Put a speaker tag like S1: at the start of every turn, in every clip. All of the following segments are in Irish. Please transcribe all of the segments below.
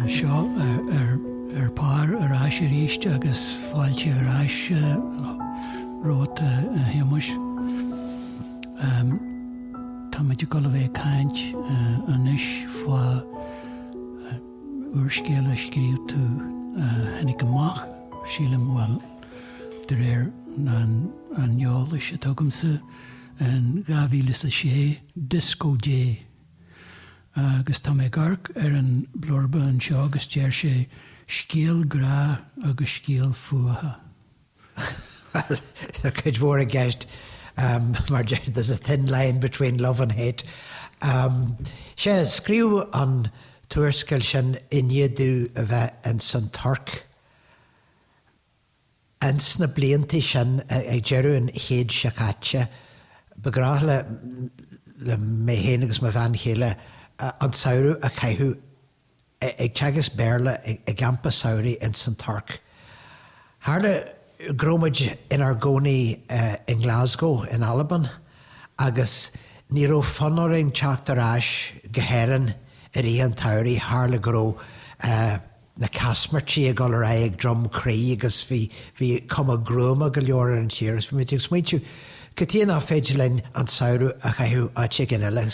S1: Seo Ar Pár ar ais arís agus fáilte ar ais romhat a Shéamuis. Táimid ag dul a bheith ag caint anois fá. úrscéal a scríobh tú a tháinig amach, sílim, bhuel, de réir an eolais atá agamsa, in dhá mhíle is a sé, Disco Dé. Agus tá mé ag amharc ar an blurb anseo agus deir sé, 'Scéal grá agus scéal fuatha.
S2: Bhuel, tá cuid mhór i gceist, there's a thin line between love and hate. Sea, scríobhadh an t-úrscéal sin i ndiaidh domh a bheith ins an Tuirc ins na blianta sin ag deireadh an chéid seo caite. Ba ghnách le mé féin agus mo bhean chéile an samhradh a chaitheamh. ag teagasc Béarla i gcampa samhraidh ins an Tuirc. Tharla go raibh muid inár gcónaí i nGlasgow in Albain agus ní raibh fonn orainn teacht ar ais go hÉirinn i rith an tsamhraidh, tharla go raibh na caismirtí ag dul ar aghaidh ag Droim Crí agus bhí cuma gruama go leor ar an tír agus bhí muid ag smaointiú, cad chuige nach féidir linn an samhradh a chaitheamh áit éigin eile?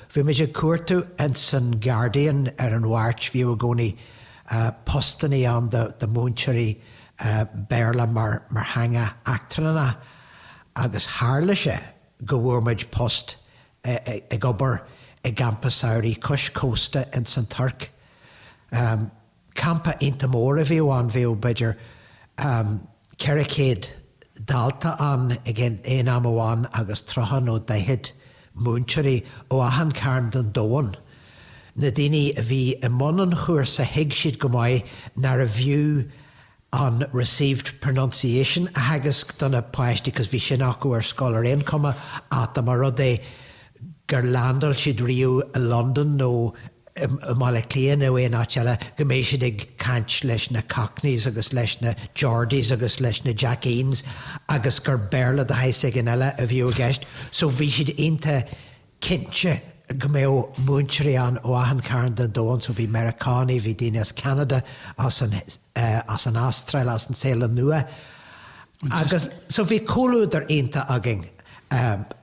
S2: Bhí muid ag cuartú ins an Guardian ar an Mháirt, bhíodh i gcónaí postannaí ann do mhúinteoirí Béarla mar theanga eachtranna agus tharla sé go bhfuair muid post ag obair i gcampa samhraidh cois cósta ins an Tuirc. Campa iontach mór a bhíodh ann, bhíodh b'fhéidir 400 dalta ann ag aon am amháin agus 30 nó 40 múinteoirí ó achan chearn den domhan. Na daoine a bhí i mbun an chúrsa thuig siad go maith nárbh fhiú an Received Pronunciation a theagasc do na páistí because bhí sin acu ar scoil ar aon chuma ach dá mba rud é gur landáil siad riamh i Londain nó i mBaile Átha Cliath nó aon áit eile go mbeidh siad ag caint leis na Cockneys agus leis na Geordies agus leis na Jackeens agus gur Béarla de shaghas éigin eile a bhíodh i gceist so bhí siad iontach cinnte go mbeadh múinteoirí ann ó achan chearn den domhan, so bhí Meiriceánaigh, bhí daoine as Ceanada, as an, as an Astráil, as an Téalainn Nua, agus so bhí comhluadar iontach againn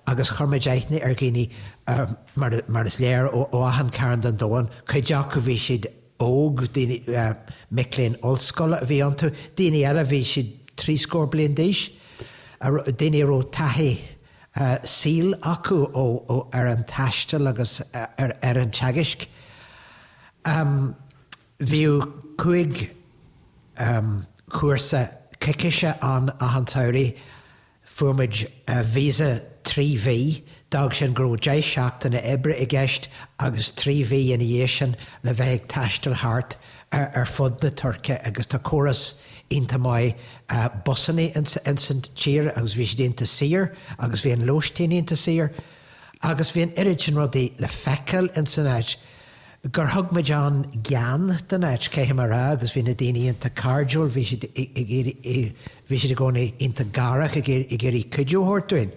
S2: agus chuir muid aithne ar dhaoine mar, mar is léir ó, ó achan chearn den domhan, cuid acu bhí siad óg, daoine, mic léinn ollscoile a bhí iontu, daoine eile bhí siad trí scór bliain d'aois, daoine a raibh taithí, saoil acu ar an taisteal agus ar an teagasc. Bhíodh cúig chúrsa coicíse ann achan tsamhradh. Fuair muid visa trí mhí, d'fhág sin go raibh deich seachtaine oibre i gceist agus trí mhí ina dhiaidh sin le bheith ag taisteal thart. ar fud na Tuirce agus tá córas iontach maith busanna ins an tír agus bhí siad iontach saor agus bhí an lóistín iontach saor agus bhí an oiread sin rudaí le feiceáil ins an áit gur thug muid an-gean don áit, caithfidh mé a rá, agus bhí na daoine iontach cairdiúil, bhí, bhí siad i gcónaí iontach garach ag iarraidh cuidiú a thabhairt dúinn.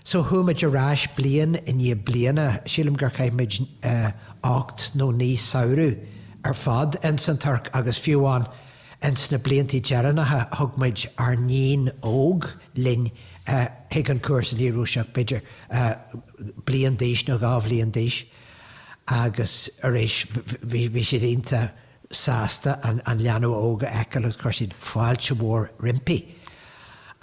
S2: So chuaigh muid ar ais bliain i ndiaidh bliana, sílim gur chaith muid ocht nó naoi samhradh ar fad ins an Tuirc agus fiú amháin ins na bliantaí deireanacha thug muid ár nighean óg linn chuig an cúrsa, ní raibh sí ach b'fhéidir bliain d'aois nó dhá bhliain d'aois agus arís bhí siad iontach. sásta an leanbh óg a fheiceáil agus chuir siad fáilte mhór roimpi.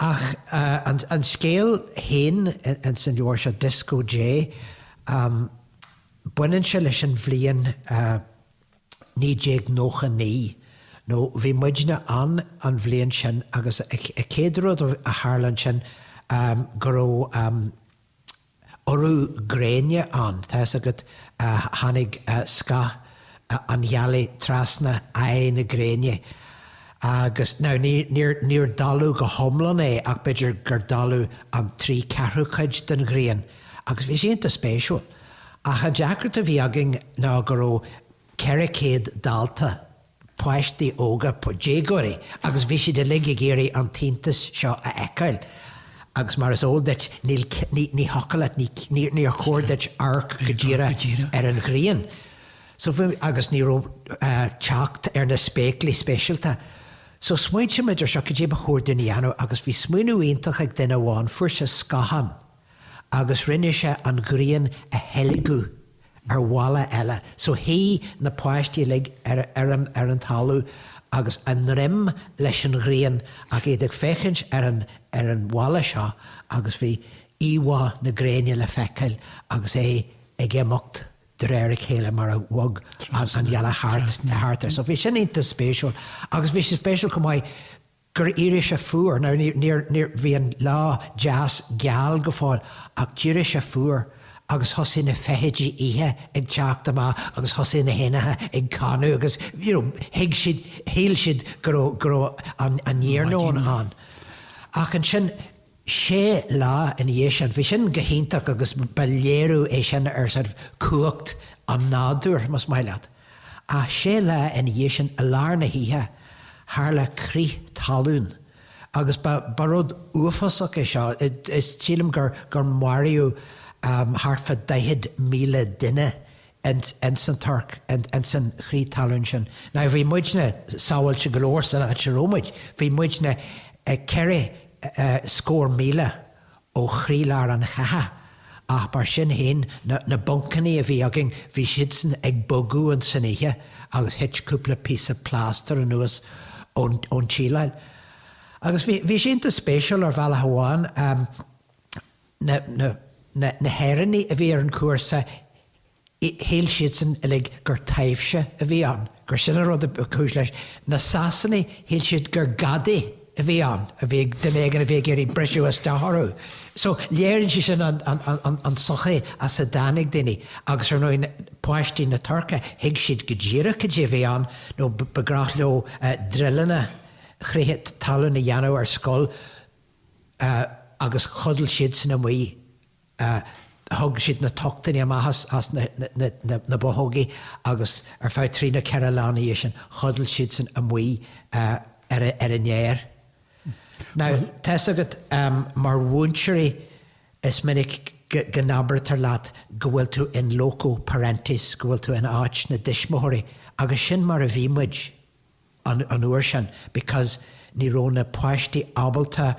S2: Ach an scéal féin ins an leabhar seo, Dioscó Dé, baineann sé leis an bhliain 1999, nó bhí muidne ann an bhliain sin agus an chéad rud a tharla ansin go raibh, urú gréine ann, tá 'fhios agat, tháinig scáth na gealaí trasna aghaidh na gréine agus, now níor, níor dalladh go hiomlán é ach b'fhéidir gur dalladh an trí ceathrú cuid den ghrian agus bhí sé iontach spéisiúil ach an deacracht a bhí againn ná go raibh ceithre céad dalta páistí óga, déagóirí, agus bhí siad uilig ag iarraidh an t-iontas seo a fheiceáil. Agus mar is eol duit, ní thiocfadh leat, ní, níor chóir duit amharc go díreach ar an ghrian. So bhí, agus ní raibh teacht ar na spéaclaí speisialta. So smaointigh muid ar seo, cad é ba chóir dúinn a dhéanamh? Agus bhí smaoineamh iontach ag duine amháin, fuair sé scáthán, agus rinne sé an ghrian a theilgeadh ar bhalla eile so shuigh na páistí uilig ar an talamh agus a ndroim leis an ghrian ach iad ag féachaint ar an bhalla seo agus bhí íomhá na gréine le feiceáil agus é ag imeacht de réir a chéile mar a bhog an ghealach thart air so bhí sin iontach spéisiúil agus bhí sé spéisiúil chomh maith mar gur éirigh sé fuar. Now, níor, níor, bhí an lá deas geal go fóill ach d'éirigh sé fuar agus thosaigh na feithidí oíche ag teacht amach agus thosaigh na héanacha ag canadh agus, you know, thuig siad, shíl siad go raibh, go raibh an, an iarnóin ann. Ach ansin. sé lá ina dhiaidh sin. Bhí sin go hiontach agus ba léiriú é sin ar sort of cumhacht an nádúir, más maith leat. Ach sé lá ina dhiaidh sin, i lár na hoíche, tharla crith talún agus ba, ba rud uafásach é seo. Is sílim gur, gur maraíodh thart fá 40,000 duine ins an Tuirc, ins an chrith talún sin. Now bhí muidne sábháilte go leor san áit a raibh muid, bhí muidne ceithre scór míle ó chroílár an chatha, ach mar sin fhéin, na buncannaí a bhí againn, bhí siadsan ag bogadh ins an oíche agus thit cúpla píosa plástair anuas ón tsíleáil. Agus bhí sé iontach spéisiúil ar bhealach amháin. na hÉireannaigh a bhí ar an chúrsa, shíl siadsan uilig gur taibhse a bhí ann, gur sin an rud a ba chúis leis. Na Sasanaigh, shíl siad gur gadaí a bhí ann, a bhí ag, duine éigin a bhí ag iarraidh briseadh isteach orthu. So, léiríonn sé sin an tsochaí as a dtáinig daoine. Agus, ar ndóigh, páistí na Tuirce, thuig siad go díreach cad é a bhí ann, nó ba gnách leo druileanna chrith talún a dhéanamh ar scoil, agus chodail siadsan amuigh. Thug siad na tochtannaí amach as na bothógaí agus ar feadh trí nó ceithre lá ina dhiaidh sin, chodail siadsan amuigh ar an fhéar. Now, tá's agat, mar mhúinteoirí is minic go n-abairtear leat go bhfuil tú in loco parentis, go bhfuil tú in áit na dtuismitheoirí, agus sin mar a bhí muid. an uair sin because ní raibh na páistí ábalta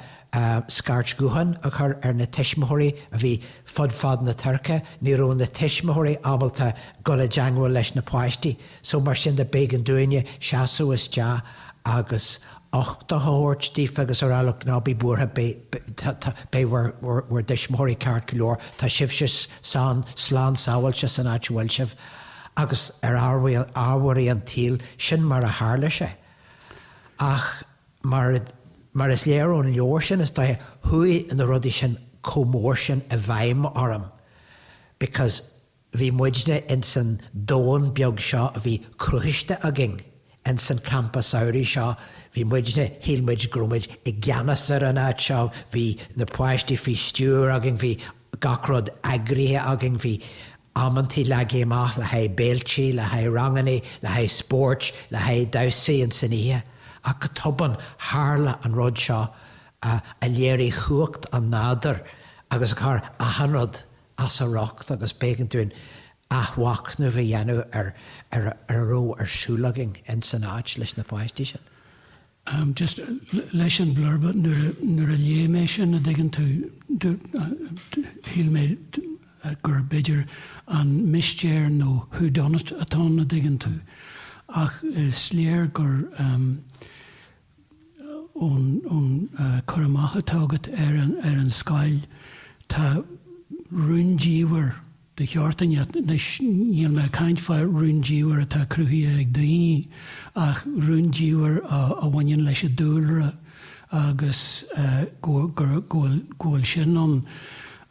S2: scairt ghutháin a chur ar na tuismitheoirí a bhí fud fad na Tuirce, ní raibh na tuismitheoirí ábalta dul i dteangmháil leis na páistí. So mar sin de, b'éigean dúinne seasamh isteach agus uchtach a thabhairt daofa agus a rá look ná bí buartha beidh bhur dtuismitheoirí ceart go leor, tá sibhse slán sábháilte san áit a bhfuil sibh. Agus ar ámharaí an tsaoil, sin mar a tharla sé. Ach mar is léir ón leabhar sin, is dóiche, chuaigh na rudaí sin chomh mór sin i bhfeidhm orm because bhí muidne insan domhan beag seo a bhí cruthaiste againn Ins an campa samhraidh seo, bhí muidne, shíl muid go raibh muid i gceannas ar an áit seo, bhí na páistí faoi stiúir againn, bhí gach rud eagraithe againn, bhí amantaí leagtha amach le haghaidh béiltí, le haghaidh rangannaí, le haghaidh spóirt, le haghaidh damhsaí ins an oíche. Ach go tobann, tharla an rud seo a léirigh chumhacht an nádúir agus a chuir achan rud. as a riocht agus b'éigean dúinn athmhachnamh a dhéanamh ar a raibh ar siúl againn ins an áit leis na páistí sin. just
S1: leis an blurba nuair a léigh mé sin, a' dtuigeann tú, shíl mé gur b'fhéidir an mistéir nó who done it atá ann, a' dtuigeann tú, ach is léir gur. Ón cur amach atá agat ar an scoil, tá rúndiamhair de sheort inteacht. Anois, níl mé ag caint fá rúndiamhair atá cruthaithe ag daoine, ach rúndiamhair a bhaineann leis an dúlra agus go bhfuil sin ann.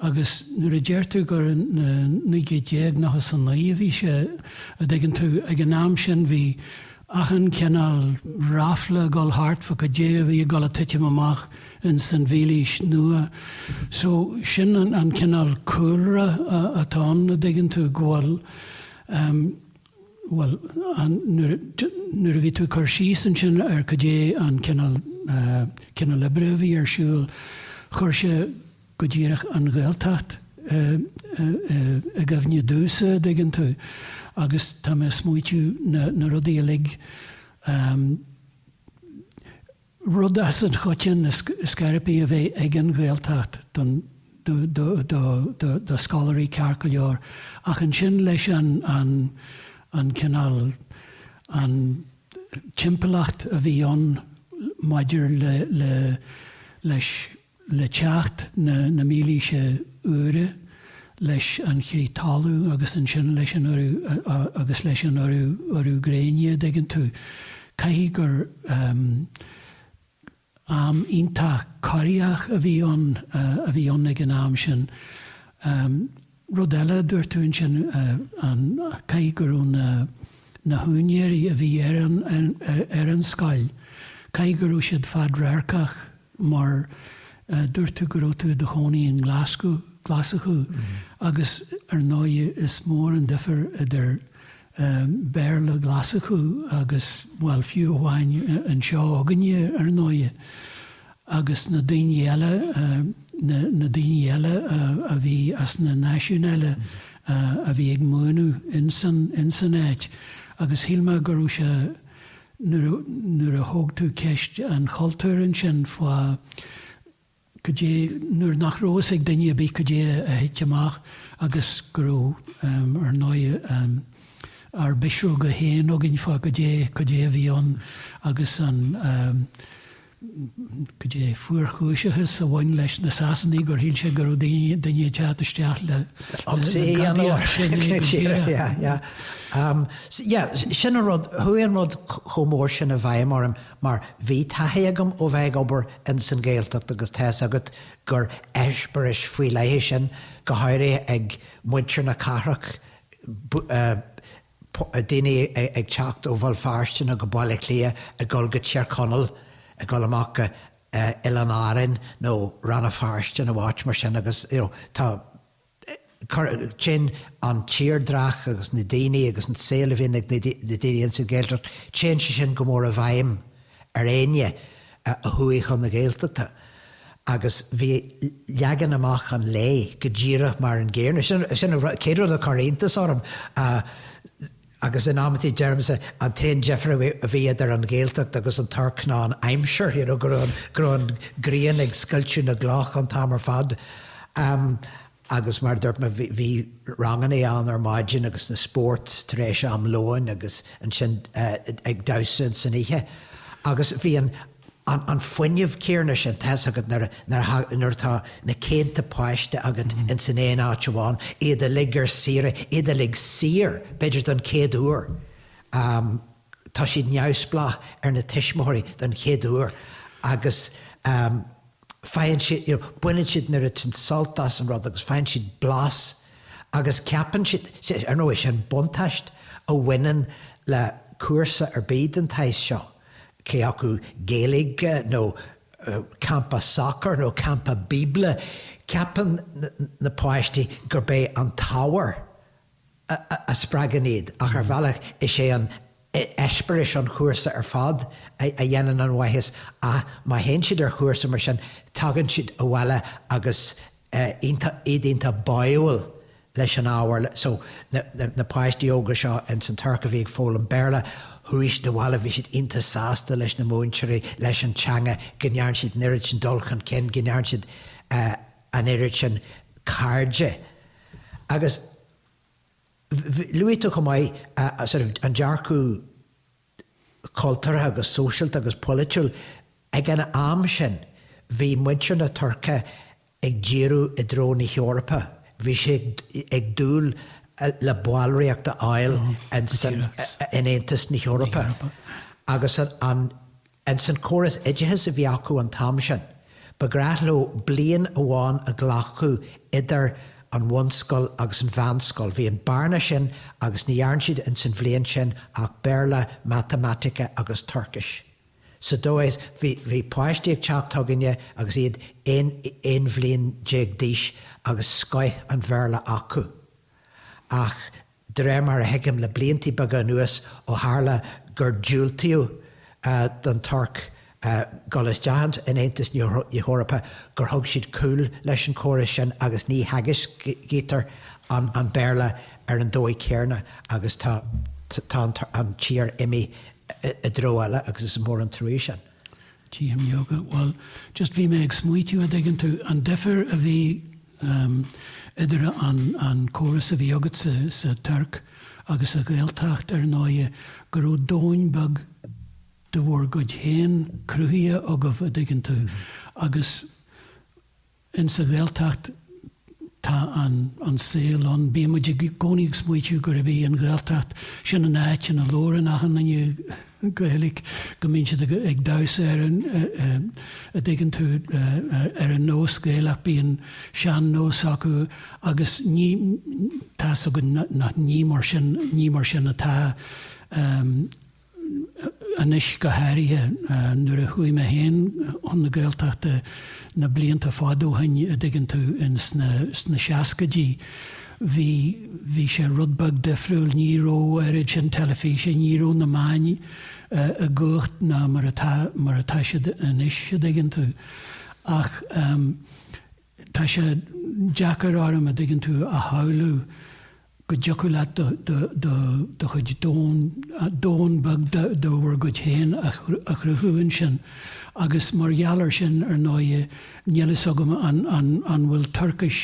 S1: Agus nuair a deir tú gur sna naoi gcéad déag nócha is a naoi a bhí sé, a' dtuigeann tú, ag an am sin bhí, achan cineál ráfla ag dul thart fá cad é a bhí ag dul a titim amach in san mhílaois nua. So, sin an cineál cúlra atá ann, a' dtuigeann tú, go bhfuil ehm, bhuel, an, nuair, nuair a bhí tú ag cur síos ansin ar cad é an cineál, eh, cineál oibre a bhí ar siúl, chuir sé, go díreach an Ghaeltacht i gcuimhne domhsa, a' dtuigeann tú, agus tá mé a' smaoitiú na, na rudaí uilig, rud as an choiteann is, is gurb é a bheith ag an Ghaeltacht don, do, do, do, do, do scoláirí ceart go leor ach ansin leis an, an, an cineál, an timpeallacht a bhí ann maidir le, le, leis, Le teacht na na mílaoise úire, leis an chrith talú agus ansin leis an urú agus leis an urú urú gréine, dtuigeann tú, caithfidh gur am iontach corraitheach a bhí ann a bhí ann ag an am sin. Rud eile a dúirt tú ansin, caithfidh go raibh na húinéirí a bhí ar an scoil, caithfidh go raibh siad fadradharcach mar dúirt tú go raibh tú i do chónaí i nGlaschú, Glaschú, agus ar ndóigh is mór an difear idir Béarla Ghlaschú agus, bhuel, fiú amháin an seo againne, ar ndóighe, agus na daoine eile, na daoine eile a bhí as na náisiúin eile a bhí ag múineadh ins an áit. Agus shíl mé go raibh sé, nuair a thóg tú ceist an chultúir ansin, fá, cad é nuair nach raibh fhios ag duine ar bith cad é a thit amach agus go raibh, ar ndóigh, ár bpisreoga féin againn fá cad é, cad é a bhí ann agus an, cad é, fuarchúiseachas a bhain leis na Sasanaigh gur shíl sé go raibh daoine, duine ag teacht isteach le, le gadaí ar sin é go díreach. Yeah,
S2: yeah. Yeah, sin an rud, chuaigh an rud chomh mór sin i bhfeidhm orm. Mar bhí taithí agam ó bheith ag obair ins an Ghaeltacht agus tá's agat gur eispéiris faoi leith é sin, go háirithe ag muintir na cathrach, daoine ag teacht ó Bhéal Feirste nó Baile Átha Cliath ag dul go Tír Chonaill, ag dul amach go Oileán Árainn nó Rann na Feirste nó áit mar sin agus, you know, tá. Téann an tírdreach agus na daoine agus an saol a bhíonn ag na daoine ins an Ghaeltacht, téann sé sin go mór i bhfeidhm ar éinne a chuaigh chun na Gaeltachta agus bhí leagan amach an lae go díreach mar an gcéanna. Sin an chéad rud a chuir iontas orm. Agus in amantaí deirimse, an t-aon difear a bhí idir an Ghaeltacht agus an Tuirc ná an aimsir, you know, go raibh an, go raibh an ghrian ag scoilteadh na gcloch an t-am ar fad. Agus mar a dúirt mé, bhí, bhí rangannaí ann ar maidin agus na spóirt tar éis am lóin agus ansin ag damhsa san oíche. Agus bhí an. an fuinneamh céanna sin tá's agat nuair atá na céadtaí páiste agat ins an aon áit amháin, iad uilig ar saoire, iad uilig saor, b'fhéidir don chéad uair. Tá siad neamhspleách ar na tuismitheoirí don chéad uair agus. faigheann siad, you know, baineann siad, nuair a tchíonn, sult as an rud agus faigheann siad blas agus ceapann siad, see, ar ndóigh, sin buntáiste a bhaineann le cúrsa ar bith den saghas seo, cé acu Gaeilge nó campa sacar nó campa Bíobla, ceapann na páistí gurb é an t-ábhar a spreagann iad, ach ar bhealach is é an t-eispéireas an chúrsa ar fad a dhéanann an mhaitheas, má théann siad ar chúrsa mar sin tagann siad abhaile agus iad iontach báúil leis an ábhar. So na páistí óga seo ins an Tuirc a bhí ag foghlaim Béarla, chuaigh siad abhaile, bhí siad iontach sásta leis na múinteoirí, leis an teanga, go ndearna siad an oiread sin dul chun cinn, go ndearna siad. an oiread sin cairde agus luaigh tú chomh maith sort of an dearcadh cultúrtha agus sóisialta agus polaitiúil, ag an am sin bhí muintir na Tuirce ag díriú i dtreo na hEorpa, bhí siad ag dúil le ballraíocht a fháil in Aontas na hEorpa agus. Ins an córas oideachais a bhí acu an t-am sin, ba ghnách leo bliain amháin a ghlacadh idir an bhunscoil agus an mheánscoil. Bhí an bearna sin agus ní dhearn siad ins an bhliain sin ach Béarla, Matamaitic agus Tuircis. Sa dóigh is bhí páistí ag teacht chugainne agus iad aon bhliain déag d'aois agus scoith an Bhéarla acu. Ach. De réir mar a thuigim, le blianta beaga anuas, ó tharla gur diúltaíodh don Tuirc dul isteach in Aontas na hEorpa, gur thug siad cúl leis an córas sin agus ní theagascaítear an Béarla ar an dóigh chéarna agus tá an tír imithe i dtreo eile agus is mór an truaighe sin. TM Yoga,
S1: Bhuel, just bhí mé ag smaoitiú a dtuigeann tú, an difir a bhí, idir an córas a bhí agat sa Tuirc agus sa Ghaeltacht ar ndóighe, go raibh domhan beag de bhur gcuid féin cruthaithe agaibh, a' dtuigeann tú, agus in sa Ghaeltacht tá an saol ann, bíonn muid i gcónaí ag smaoitiú gurb í an Ghaeltacht, sin an áit ina labhrann achan duine Gaeilge go mbíonn siad ag damhsa ar an, a' dtuigeann tú, ar an nós Gaelach, bíonn sean-nós acu agus ní, tá's againn nach ní mar sin, ní mar sin atá, anois go háirithe, nuair a chuaigh mé féin chun na Gaeltachta na blianta fada ó shin, a' dtuigeann tú, in sna, sna seascaidí. Bhí, bhí sé rud beag difriúil, ní raibh oiread sin teilifíse, ní raibh na meáin comh cumhachtach mar atá, mar atá siad anois, a' dtuigeann tú. Ach tá sé deacair orm, a' dtuigeann tú, a shamhlú go dtiocfadh leat do, do, do, do chuid domhan, domhan beag de, de bhur gcuid féin a, a chruthú ansin. Agus mar gheall air sin, ar ndóighe, Níl fhios agam an bhfuil Tuircis,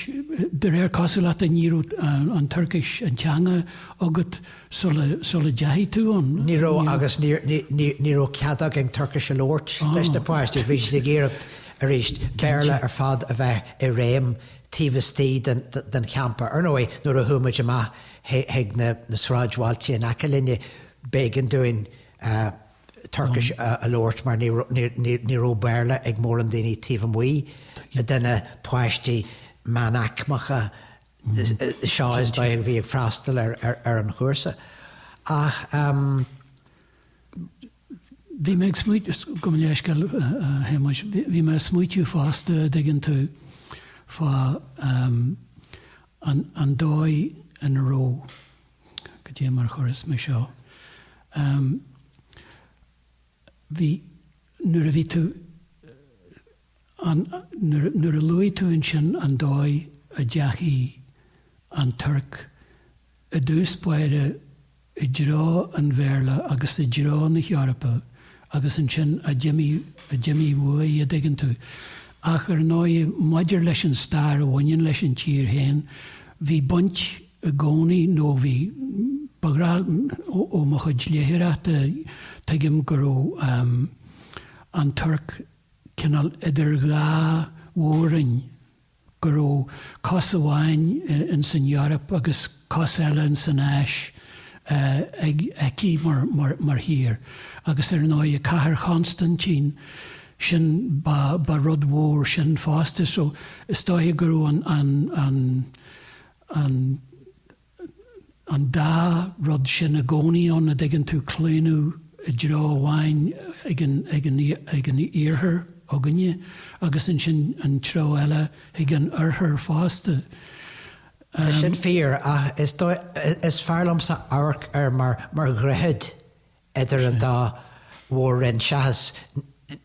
S1: de réir cosúlachta ní raibh an Tuircis, an teanga, agat sula dteachaigh tú ann. Ní raibh agus
S2: ní raibh cead againn Tuircis a labhairt leis na páistí, bhí siad ag iarraidh arís Béarla ar fad a bheith i réim taobh istigh den champa. Ar ndóigh nuair a chuaigh muid amach chuig na sráidbhailte in aice linne b'éigean dúinn Tuircis a labhairt mar ní raibh Béarla ag mórán daoine taobh amuigh de na páistí meánaicmeacha seo is dóigh a bhí ag freastal ar an chúrsa. Ach.
S1: Bhí mé ag smaoineamh, gabh mo leithscéal a Shéamuis, bhí mé ag smaoitiú fosta a' dtuigeann tú, fá an dóigh ina raibh, goidé mar chuirfeas mé seo. Ehm, bhí, nuair a bhí tú, an, nuair, nuair a luaigh tú ansin an dóigh a dteachaigh an Tuirc i dtús báire i dtreo an Bhéarla agus i dtreo na hEorpa agus ansin a d'imigh, a d'imigh uaidh, a', dtuigeann tú. Ach ar ndóigh, maidir leis an stair a bhaineann leis an tír féin, bhí baint i gcónaí, nó bhí, ba bhreá, ó mo chuid léitheoireachta, tuigim go raibh an Tuirc cineál idir dhá mhór-roinn, go raibh cos amháin in san Eoraip agus cos eile in san Áis ag aici mar thír. Agus ar ndóigh Cathair Chonstaintín, sin, ba rud mhór sin fosta. So, is dóiche go raibh an, an an dá rud sin i gcónaí ann, a' dtuigeann tú, claonadh i dtreo amháin ag an, ag an, ag an iarthar againne agus ansin an treo eile ag an oirthear fosta. Tá
S2: sin fíor ach is dóigh, is fearr liomsa amharc air mar, mar dhroichead Idir an dá mhór-roinn seachas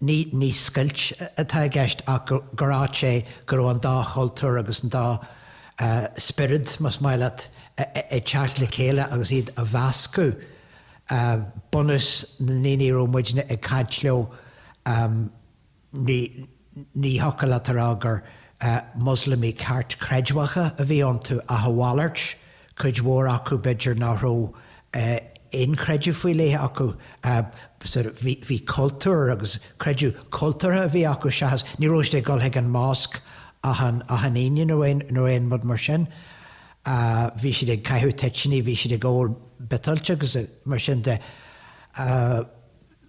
S2: ní scoilt atá i gceist ach gur áit sé go raibh an dá chultúr agus an dá spiorad, más maith leat, ag teacht le chéile agus iad ag meascadh. Bunús na ndaoine a raibh muidne ag caint leo, Ní thiocfadh leat a rá gur Muslamaigh ceartchreidmheacha a bhí iontu ach a mhalairt, cuid mhór acu, b'fhéidir, nach raibh aon chreideamh faoi leith acu, bhí cultúr agus creideamh cultúrtha a bhí acu seachas, ní raibh siad ag dul chuig an mosc achan Aoine nó aon rud mar sin. Bhí siad ag caitheamh toitiní, bhí siad ag ól biotáilte agus mar sin de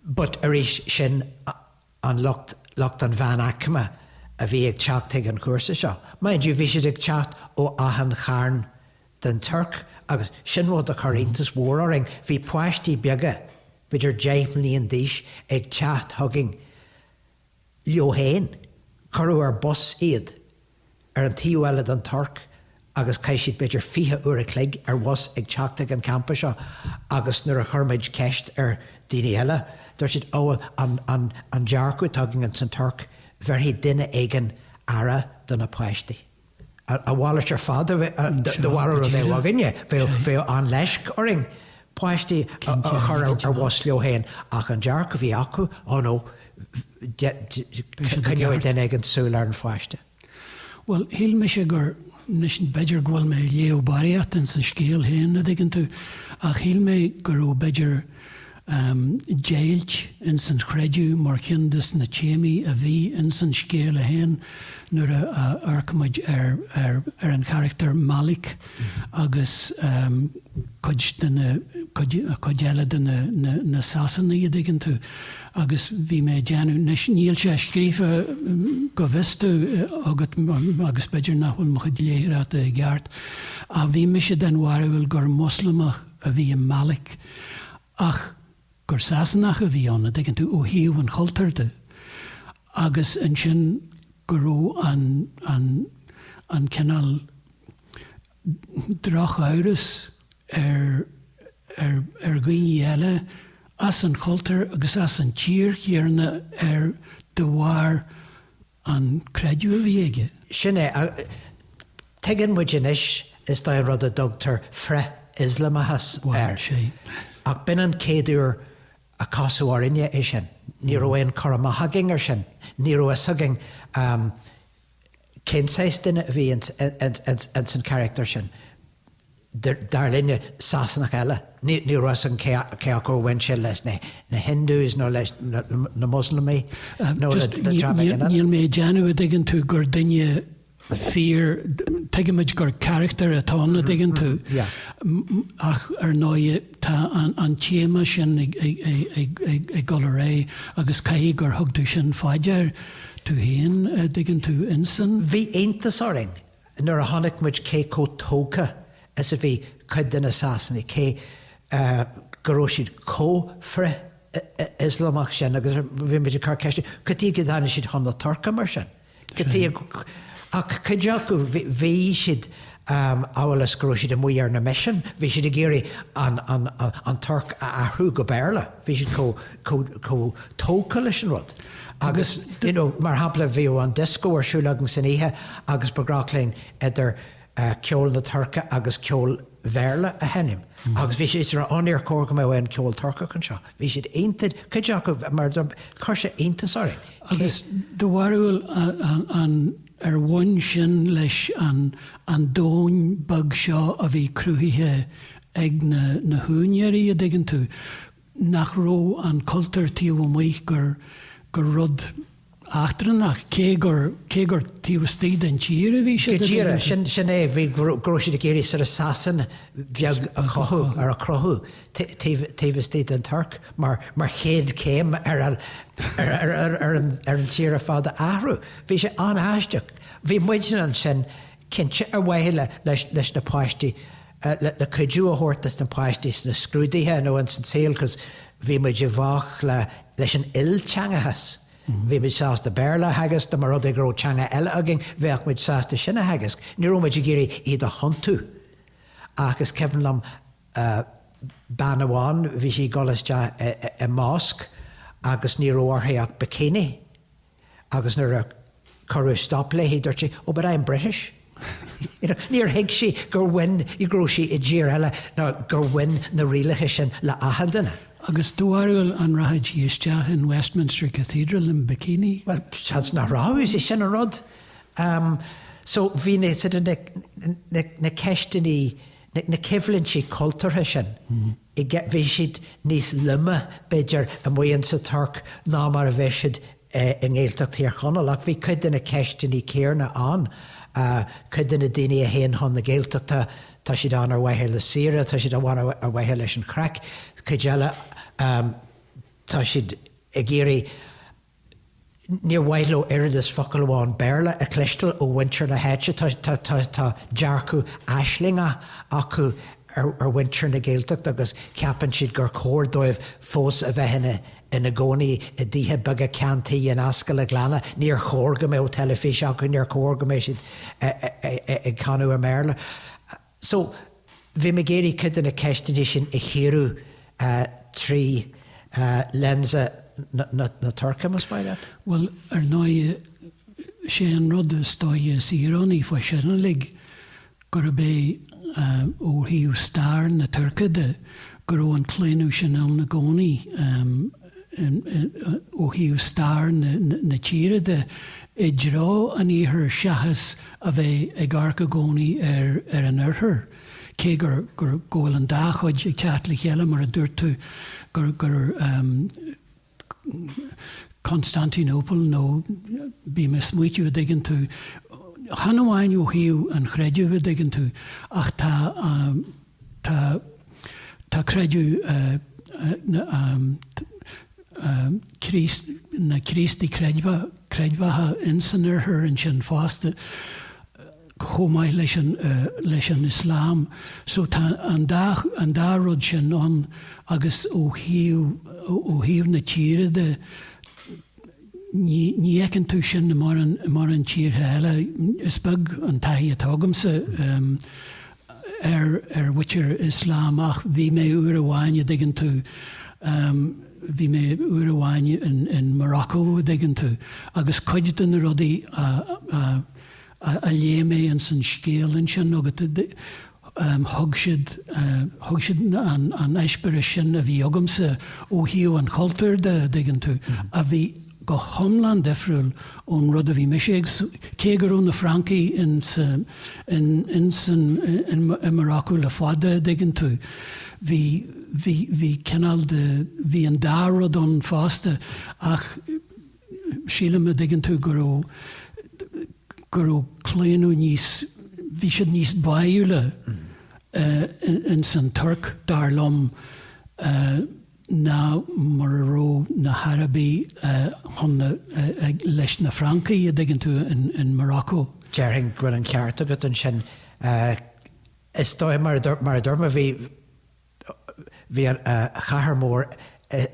S2: but arís sin, an lucht, lucht an mheánaicme a bhí ag teacht ag an chúrsa seo. Mind you, bhí siad ag teacht ó achan charn den Tuirc agus sin rud a chuir iontas mhór orainn, bhí páistí beaga, b'fhéidir deich mbliain d'aois, ag teacht chugainn leo féin, cuireadh ar bhus iad. ar an taobh eile den Tuirc agus chaith siad b'fhéidir fiche uair a chloig ar bhus ag teacht ag an gcampa seo agus nuair a chuir muid ceist ar dhaoine eile dúirt siad 'Ó bhuel an dearcadh atá againn ins an Tuirc bhéarfaidh duine éigin aire do na páistí'. A mhalairt ar fad de bharúil a bheadh againne, bheadh an-leisc orainn. páistí a chur ar bhus leo féin ach an dearcadh a bhí acu, oh no, coinneoidh duine éigin súil ar an pháiste. Bhuel,
S1: shíl mise gur, anois b'fhéidir go bhfuil mé ag léamh barraíocht ins an scéal féin, a' dtuigeann tú, ach shíl mé go raibh b'fhéidir deighilt ins an chreideamh mar cionn de na téamaí a bhí ins an scéal féin nuair a amharcaimid ar an charachtar Malick. agus cuid de na, cuid, cuid eile de na, na, na Sasanaigh, a' dtuigeann tú, agus bhí mé a' déanamh, anois níl sé scríofa, bhfuil a fhios agat, agus b'fhéidir nach bhfuil mo chuid léitheoireachta i gceart, ach bhí mise den bharúil gur Moslamach a bhí i Malick, ach gur Sasanach a bhí ann, an dtuigeann tú, ó thaobh an chultúir de, agus ansin go raibh an, an, an cineál drochamhras ar, ar, ar dhaoine eile as an chultúr agus as an tír chéarna air de bharr, an creideamh a bhí aige. Sin
S2: é. Tuigeann muid anois, is dóigh, an rud a dtugtar frith-Ioslamachas air. Ach b'in an chéad uair a casadh orainne é sin. Ní raibh aon chur amach againn air sin. Ní raibh fhios againn cén saghas duine a bhí ins an charactar sin. dar linne, Sasanach eile. Ní raibh 's agam cé acu a bhain sé leis na Hindus nó leis na Muslamaigh nó le dream éigin eile. Níl mé ag déanamh a
S1: dtuigeann tú gur duine fíor, tuigimid gur carachtar atá ann a dtuigeann tú, ach ar ndóigh tá an téama sin ag dul ar aghaidh agus caithfidh gur thug tú sin fá dear tú féin, a dtuigeann tú, in san. Bhí iontas
S2: orainn nuair a chonaic muid cé chomh tógtha is a bhí cuid de na Sasanaigh, cé go raibh siad chomh frith-Ioslamach sin, agus bhí muid ag cur ceiste, cad chuige a dtáinig siad chun na Tuirce mar sin? Cad chuige, ach cuid acu, bhí siad, amhail is go raibh siad amuigh ar na misin, bhí siad ag iarraidh an Tuirc a athrú go Béarla. bhí siad chomh, chomh, chomh tógtha leis an rud agus you know mar shampla bhí an disco ar siúl againn san oíche agus ba ghnách linn idir ceol na Tuirce agus ceol Béarla a sheinm agus bhí siad ag rá oh níor chóir go mbeadh aon cheol Turcach anseo. Bhí siad iontach, cuid acu mar chuir sé iontas orainn. Agus
S1: do bharúil an, an, ar bhain sin leis an, an domhain beag seo a bhí cruthaithe ag na húinéirí, a' dtuigeann tú, nach raibh an cultúr taobh amuigh gur, gur rud eachtrannach, cé gur, cé gur taobh istigh den tír a bhí siad, a dtuigeann tú. Sin é,
S2: bhí, go raibh siad ag iarraidh sort of Sasain bheag a chothú, or a chruthú taobh, taobh istigh den Tuirc mar, mar chéad chéim ar an, ar, ar, ar, ar an, ar an tír ar fad a athrú. Bhí sé an-aisteach. Bhí muidne ansin. cinnte ar mhaithe le, leis, leis na páistí, le, le cuidiú a thabhairt dos na páistí sna scrúduithe nó ins an saol cos bhí muid i bhfách le, leis an ilteangachas, bhí muid sásta Béarla a theagasc dá mba rud é go raibh teanga eile againn bheadh muid sásta sin a theagasc, ní raibh muid ag iarraidh iad a thiontú ach is cuimhin liom bean amháin bhí sí ag dul isteach i, i, i mosque agus ní raibh uirthi ach bikini. Agus nuair a cuireadh stop léi, dúirt sí, Oh, but I'm British! You know, níor thuig sí gur bhain, go raibh sí i dtír eile nó gur bhain na rialacha sin le achan duine. Agus do
S1: bharúil, an rachadh sí isteach in Westminster Cathedral in bikini? Bhuel, seans
S2: nach rachadh, is é sin an rud. So, bhí na, na, na, na ceisteannaí. na coimhlintí cultúrtha sin, bhí siad níos loime, b'fhéidir, amuigh insa Tuirc ná mar a bheadh siad i nGaeltacht Thír Chonaill. Ach bhí cuid de na ceisteannaí céanna ann. Cuid de na daoine a théann chun na Gaeltachta, tá siad ann ar mhaithe le saoire, tá siad ann ar mhaithe leis an chraic. Cuid eile, tá siad ag iarraidh níor mhaith leo oiread is focal amháin Béarla a chloisteáil ó mhuintir na háite. Tá dearcadh aislingeach acu ar mhuintir na Gaeltachta agus ceapann siad gur chóir dóibh fós a bheith ina gcónaí i dtithe beaga ceann tuí in ascaill an ghleanna. Níor chóir go mbeadh teilifís acu, níor chóir go mbeadh siad ag canadh i mBéarla. So, bhí mé ag iarraidh cuid de na ceisteannaí sin a chíoradh trí lens na Tuirce, más maith leat. Bhuel, ar ndóigh,
S1: sé an rud is dóiche is íorónaí fá sin uilig, gurb é, ó thaobh stair na Tuirce de, go raibh an claonadh sin ann i gcónaí. ó thaobh stair na tíre de, i dtreo an iarthair seachas a bheith ag amharc i gcónaí ar an oirthear, cé gur, gur, go bhfuil an dá chuid ag teacht le chéile, mar a dúirt tú, gur, gur Constantinople nó, bím ag smaoitiú an dtuigeann tú, chan amháin ó thaobh an chreidimh an dtuigeann tú, ach tá an, Tá, tá creideamh na Críostaithe creidmheacha in san Oirthear ansin fosta, chomh maith leis an, leis an Islam. So tá an dá, an dá rud sin ann agus ó thaobh, ó thaobh na tíre de, ní, ní fheiceann tú sin i mórán, mórán tíortha eile. Is beag an taithí atá agamsa. ar ar mhuintir Ioslam ach bhí mé uair amháin a' dtuigeann tú ehm bhí mé uair amháin in in Morocco a' dtuigeann tú agus cuid de na rudaí a a a a léigh mé ins an scéal ansin agat ehm thug siad thug siad an an eispéireas sin a bhí agamsa ó thaobh an chultúir de a' dtuigeann tú a bhí go hiomlán difriúil ón rud a bhí mise cé go raibh na Francaigh in Morocco le fada, a' dtuigeann tú, bhí, bhí, bhí cineál de, bhí an dá rud ann fosta ach sílim, a' dtuigeann tú, go raibh, go raibh claonadh níos, bhí siad níos báúla ins an Tuirc, dar liom. ná mar a raibh na hArabaigh chun na, leis na Francaigh, an dtuigeann tú, in Morocco. Déarfainn go bhfuil an
S2: ceart agat ansin. Is dóigh, mar a dúirt, mar a dúirt mé, bhí, bhí an chathair mór,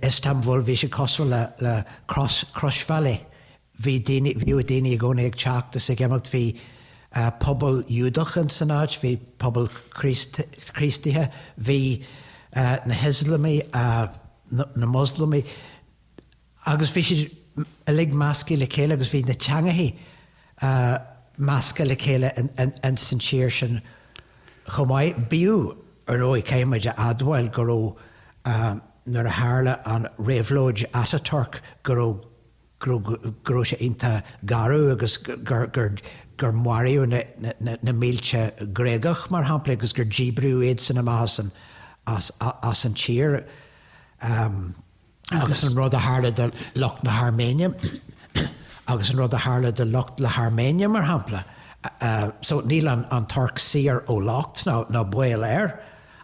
S2: Istanbul, bhí sé cosúil le, le cros, crosbhealaí, bhí daoine, bhíodh daoine i gcónaí ag teacht is ag imeacht, bhí pobal Iúdach in san áit, bhí pobal Críostaithe, bhí na hIoslamaigh, na Moslamaigh agus bhí siad uilig measctha le chéile agus bhí na teangacha measctha le chéile in san tír sin chomh maith. Bíodh ar ndóigh, caithfidh muid a admháil, go raibh, nuair a tharla an réabhlóid Ataturk, go raibh, go raibh sé iontach garbh agus gur maraíodh na mílte Gréagach, mar shampla, agus gur díbríodh iadsan amach as an tír agus an rud a tharla do lucht na hAirméine, agus an rud a tharla do lucht na hAirméine, mar shampla. So níl an Tuirc saor ó locht, ná baol air.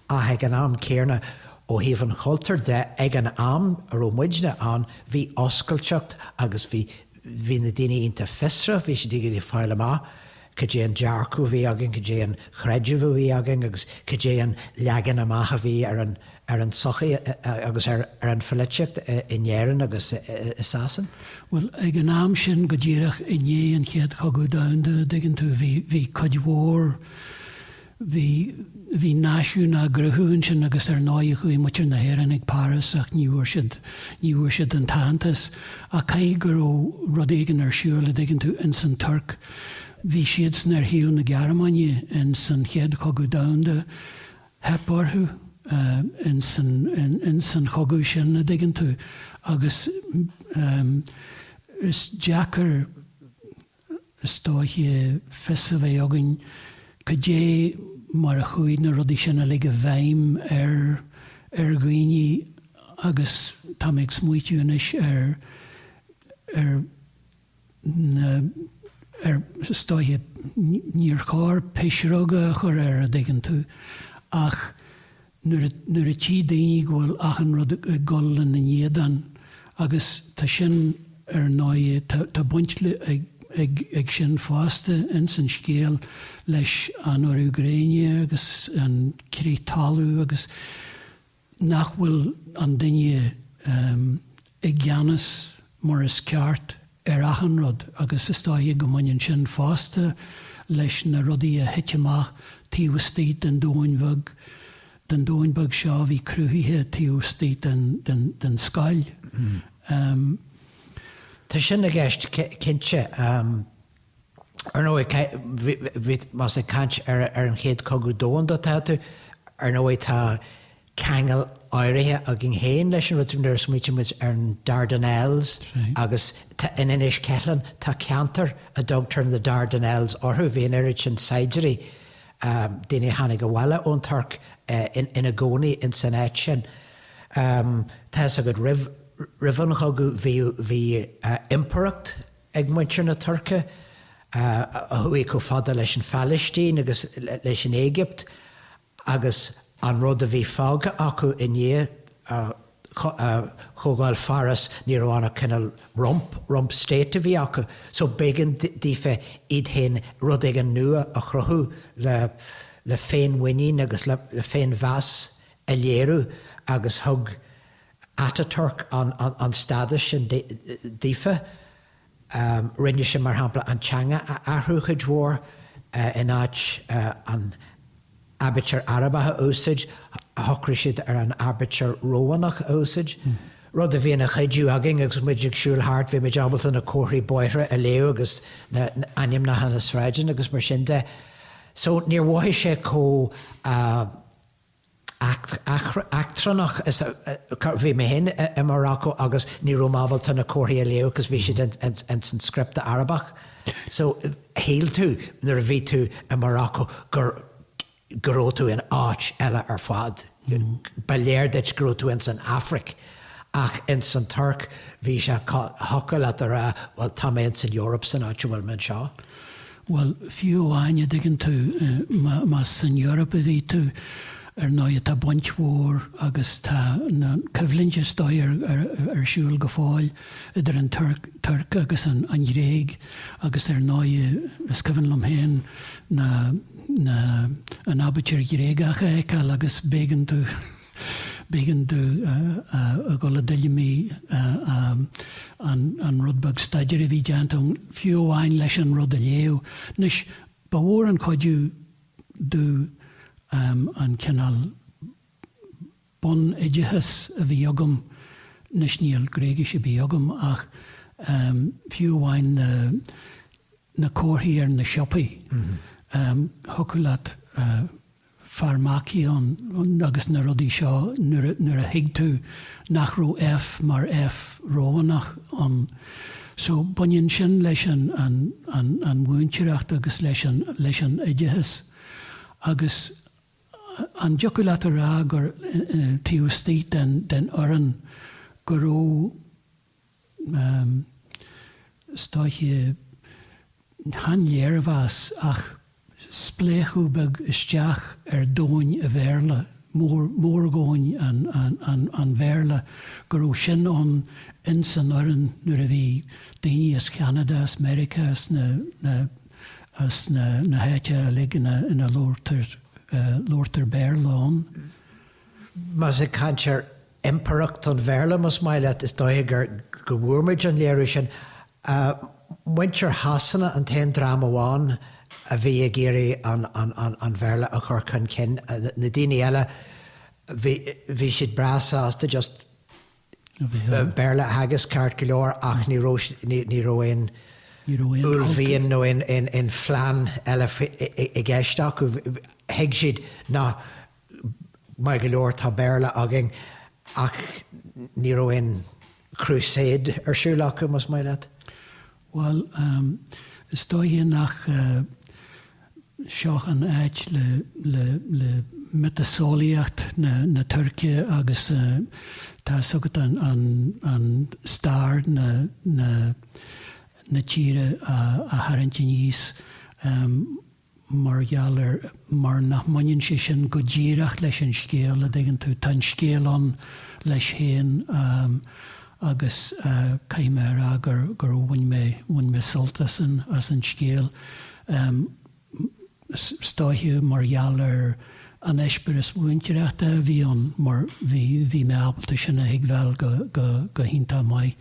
S2: Ach ag an am céanna, ó thaobh an chultúir de, ag an am a raibh muidne ann, bhí oscailteacht agus bhí, bhí na daoine iontach fiosrach, bhí siad ag iarraidh fáil amach cad é an dearcadh a bhí againn, cad é an chreideamh a bhí againn agus cad é an leagan amach a bhí ar an, ar an tsochaí agus ar, ar an pholaitíocht in Éirinn agus i Sasain. Bhuel, ag an
S1: am sin, go díreach i ndiaidh an Chéad Cogadh Domhanda, a dtuigeann tú, bhí, bhí cuid mhór, Bhí, bhí náisiún á gcruthú ansin agus ar ndóigh chuaigh muintir na hÉireann go Páras ach ní bhfuair siad, ní bhfuair siad an t-aitheantas ach caithfidh go raibh rud éigin ar siúl a' dtuigeann tú, ins an Tuirc. Bhí siadsan ar thaobh na Gearmáine ins an Chéad Chogadh Domhanda, theip orthu ins an, ins an chogadh sin a' dtuigeann tú agus is deacair, Is dóiche fios a bheith againn cad é mar a chuaigh na rudaí sin uilig i bhfeidhm ar ar dhaoine agus tá mé ag smaoitiú anois ar ar na ar is dóiche níor chóir pisreoga a chur air a dtuigeann tú ach nuair a tchí daoine go bhfuil achan rud ag gabháil ina n-éadan, agus tá sin ar ndóigh, tá baint ag sin fosta ins an scéal leis an urú gréine agus an crith talún agus nach bhfuil an duine i gceannas mar is ceart ar achan rud agus is dóiche go mbaineann sin fosta leis na rudaí a thit amach taobh istigh den domhain bheag, den domhain beag seo a bhí cruthaithe taobh istigh den, den, den scoil.
S2: Tá sin i gceist cinnte. Ar ndóigh, más ag caint ar an Chéad Cogadh Domhanda atá tú, ar ndóigh tá ceangal áirithe againn féin leis an rud sin nuair a smaoitíonn muid ar an Dardanelles agus in Inis Ceithleann tá ceantar a dtugtar na Dardanelles orthu, bhí an oiread sin saighdiúirí, daoine a tháinig abhaile ón Tuirc, ina gcónaí in san áit sin. Tá fhios agat, roimh an chogadh bhí Impireacht. ag muintir na Tuirce, a chuaigh chomh fada leis an Phalaistín agus leis an Éigipt, agus an rud a bhí fágtha acu i ndiaidh Chomhdháil Pháras, ní raibh ann ach cineál rump, rump state a bhí acu. So b'éigean daofa iad féin, rud éigin nua a chruthú le féinmhuinín agus le féinmheas a léiriú agus thug, Atatürk an stádas sin daofa. Rinne sé, mar shampla, an teanga a athrú cuid mhór, in áit an aibítir Arabach a úsáid, shocraigh siad ar an aibítir Rómhánach a úsáid, rud a bhí ina chuidiú againn, agus muid ag siúl thart, bhí muid ábalta na comharthaí bóithre a léamh agus na hainmneacha na sráideanna agus mar sin de. So, níor mhothaigh sé chomh. eachtrannach bhí mé féin i Morocco agus ní raibh mé ábalta na comharthaí a léamh because bhí siad ins an script Arabach so shíl tú nuair a bhí tú i Morocco gur go raibh tú in áit eile ar fad. Ba léir duit go raibh tú ins an Aifric ach ins an Tuirc bhí sé thiocfadh leat a rá bhuel tá mé ins an Eoraip san áit a bhfuil mé anseo.
S1: Bhuel, fiú amháin, a' dtuigeann tú, más san Eoraip a bhí tú, ar ndóighe tá baint mhór agus tá na, coimhlint is dóiche ar, ar siúl go fóill idir an Tuirc, Tuirc agus an, an Ghréig agus ar ndóighe is cuimhin liom féin na, na, an aibítir Ghréagach a fheiceáil agus b'éigean domh, B'éigean domh a dhul i dtuilleamaí an rud beag staidéir a bhí déanta ann, fiú amháin leis an rud a léamh. Anois, ba mhór an cuidiú domh an cineál bun-oideachas a bhí agam, anois níl Gréigis ar bith agam, ach fiú amháin na comharthaí ar na siopaí, thiocfadh leat, farmakeion agus na rudaí seo nuair a thuig tú nach raibh F mar F Rómhánach ann. So, baineann sin leis an mhúinteoireacht agus le leis an oideachas. Agus an dtiocfadh leat a rá gur taobh istigh den fhoireann go raibh. Is dóiche, chan léirmheas ach spléachadh beag isteach ar dhomhain a Bhéarla, mórdhomhain an Bhéarla, go raibh sin ann ins an fhoireann nuair a bhí daoine as Ceanada, as Meiriceá, as na háiteanna uilig ina labhartar Béarla ann.
S2: Más ag caint ar Impireacht an Bhéarla, más maith leat. Is dóiche go bhfuair muid an léiriú sin. Muintir Shasana an t-aon dream amháin a bhí ag iarraidh an Bhéarla a chur chun cinn. Na daoine eile, bhí siad breá sásta just Béarla a theagasc ceart go leor ach ní raibh aon uaillmhian nó aon phlean eile i gceist acu. Thuig siad nach. Maith go leor, tá Béarla againn, ach ní raibh aon Crusade ar siúl acu, más maith leat. Bhuel,
S1: is dóiche nach seo an áit le miotaseolaíocht na Tuirce agus tá's agat an stair na tíre a tharraingt aníos. mar gheall ar, mar nach mbaineann sé sin go díreach leis an scéal, a' dtuigeann tú, tá an scéal ann leis féin agus caithfidh mé a rá gur, gur bhain mé, bhain mé sult as an, as an scéal. Is dóiche mar gheall ar an eispéireas mhúinteoireachta a bhí ann mar bhí, bhí mé ábalta sin a thuigbheáil go, go, go hiontach maith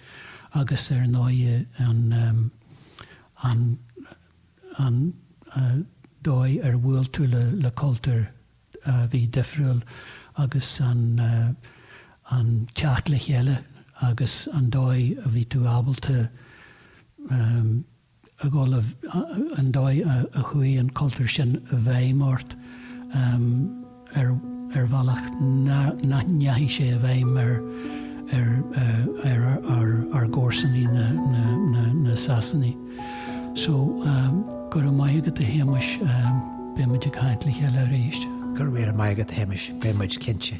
S1: agus ar ndóighe an, an, an dóigh ar bhuail tú le cultúr a bhí difriúil agus an teacht le chéile agus an dóigh a bhí tú ábalta a dhul, an dóigh a chuaigh an cultúr sin i bhfeidhm ort. ar bhealach nach ndeachaidh sé i bhfeidhm ar ár gcomharsanaí na Sasanaigh. So, go raibh maith agat a Shéamais,
S2: beidh
S1: muid
S2: ag caint
S1: le
S2: chéile
S1: arís.
S2: Go
S1: raibh míle
S2: maith agat
S1: a
S2: Shéamais,
S1: beidh
S2: muid cinnte.